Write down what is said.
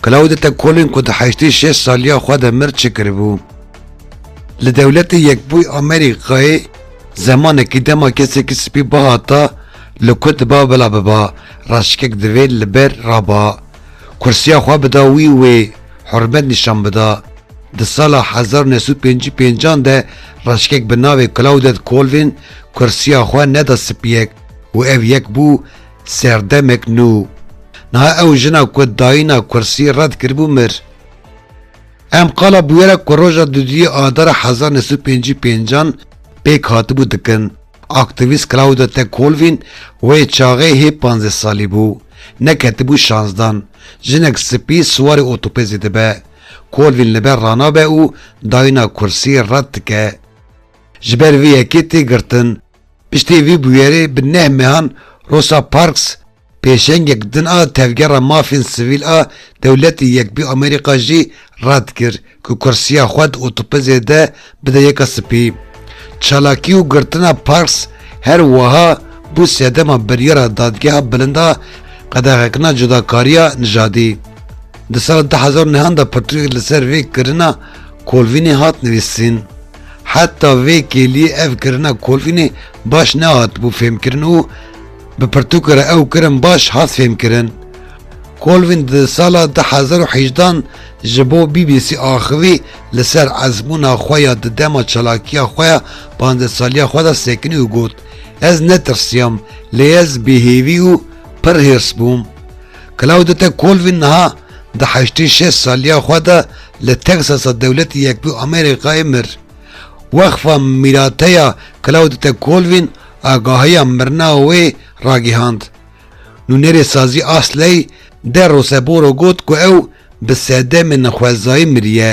Claudete Colin ku di heştê şeş saliya xwe de mir çi kiribû? Li Dewletê Yekbûyî Amerîkayê zemanekî dema kesekî spî bihata li ku diba bila biba, raşikek divê li ber raba, kursiya xwe bida wî û wê hurmet nîşan bida. Di sala hezar û neh sed û pêncî pêncan de raşikek bi navê Claudete Colvin kursiya xwe neda spiyek û ev yek bû Serdemek nû niha ew jina ku dayîna kursî red kiribû mir. Em qala bûyera ku roja duduyê adara hezar neh sed û pêncî û pêncan pêk hatibû dikin. Aktîvîst Claude Te Colvin wê çaxê hê panzdeh salî bû. Neketibû şansdan. Jinek spî siwarê otopezê dibe. Colvin li ber ranabe û dayîna kursî red dike. Ji ber vê yekê tê girtin. Piştî vî bûyerê bi neh mehan Rosa Parks pêşengek din a tevgera mafên sivîl a dewletê Yekbûyî Amerîka jî red kir ku kursiya xwe di otopezê de bide Yeka Spî. Çalakî û girtina Parks her wiha bû sedema biryara Dadgeha Bilind a qedexekirina cudakariya nijadî. Di sala du hezar û nehan de pirtûkek li ser vê kirina Kolvînê hat nivîsîn. Heta vê kêliyê ev kirina kolînê baş nehatibû fêmkirin û bi pirtûkê re ew kirin baş hat fêmkirin. Kolvin di sala du hezar û heyjdan ji bo bbc axivî li ser ezmûna xwe ya di dema çalakiya xwe ya panzdeh saliya xwe de sekinî û got, Ez netirsiyam, lê ez bêhêvî û pir hêrs bûm. Claudete Kolvin niha Di heştên şeş saliya xwe de li Texasa Dewletê Yekbûyî Amerîkayê mir. Weqfa Mîrateya Claudete Colvin agahiya mirina wê ragihand. Nûnerê sazî Asley De Roseboro got ku ew bi sedemên xwezayî miriye.